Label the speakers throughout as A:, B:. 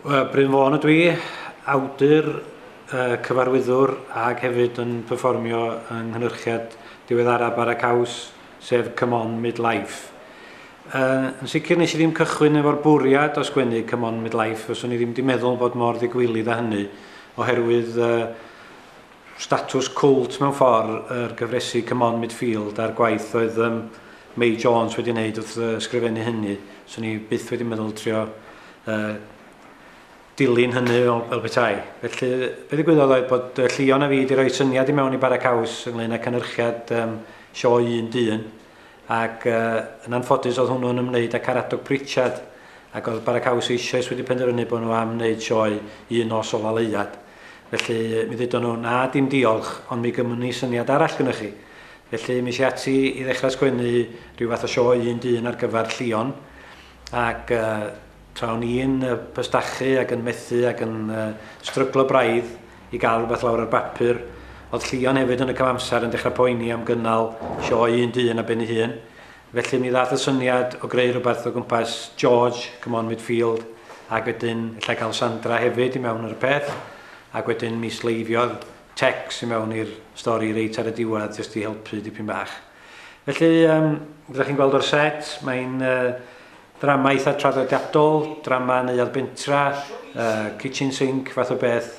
A: Bryn Fôn ydw i, awdur, uh, cyfarwyddwr ac hefyd yn perfformio yng nghynhyrchiad diweddara Bara Caws, sef Come On Midlife. Uh, yn sicr nes i ddim cychwyn efo'r bwriad o sgwennu Come On Midlife, fyswn i ddim wedi meddwl bod mor ddigwilydd â hynny, oherwydd uh, Statws cwlt mewn ffordd yr gyfresi C'mon Midfield a'r gwaith oedd yym Mei Jones wedi wneud wrth yy ysgrifennu hynny, swn i byth wedi meddwl trio yy dilyn hynny fel, fel petai. Felly be ddigwyddodd oedd bod yy Llion a fi wedi rhoi syniad i mewn i Bara Caws ynglyn â cynhyrchiad yym sioe un dyn ac yy yn anffodus oedd hwnnw'n ymwneud â Caradog Pritchard ac oedd Bara Caws eisoes wedi penderfynu bod nhw am wneud sioe un nos ola Leuad. Felly, mi ddudon nhw, 'Na, dim diolch, ond mi gymwn ni syniad arall gynnoch chi. Felly, mi es i ati i ddechrau sgwennu rhyw fath o sioe un dyn ar gyfer Llion, ac uh, tra o'n i'n uh, pystachu ac yn methu ac yn uh, stryglo braidd i gael rhywbeth lawr ar bapur, oedd Llion hefyd yn y cyfamser yn dechrau poeni am gynnal sioe un dyn a ben ei hun, Felly mi ddaeth y syniad o greu rhywbeth o gwmpas George, come on midfield, ac wedyn ella cael Sandra hefyd i mewn ar y peth, ac wedyn mi sleifiodd Tex i mewn i'r stori reit ar y diwedd jyst i helpu dipyn bach. Felly, um, rydych chi'n gweld o'r set, mae'n uh, ddrama eitha traddodiadol, drama neuad bentra, uh, kitchen sink fath o beth,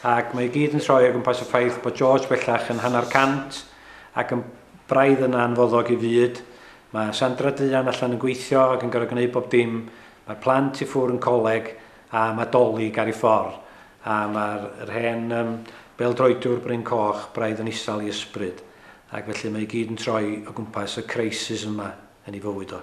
A: ac mae i gyd yn troi o gwmpas y ffaith bod George bellach yn hanner cant, Ac yn braidd yn anfoddog i fyd. Mae Sandra Duan allan yn gweithio ac yn gorfod gwneud bob dim. Mae'r plant i ffwr yn coleg a mae Dolig ar ei ffordd. A mae'r yr hen um, bêl-droediwr bryn coch braidd yn isal i ysbryd. Ac felly mae i gyd yn troi o gwmpas y crisis yma yn ei fywyd o.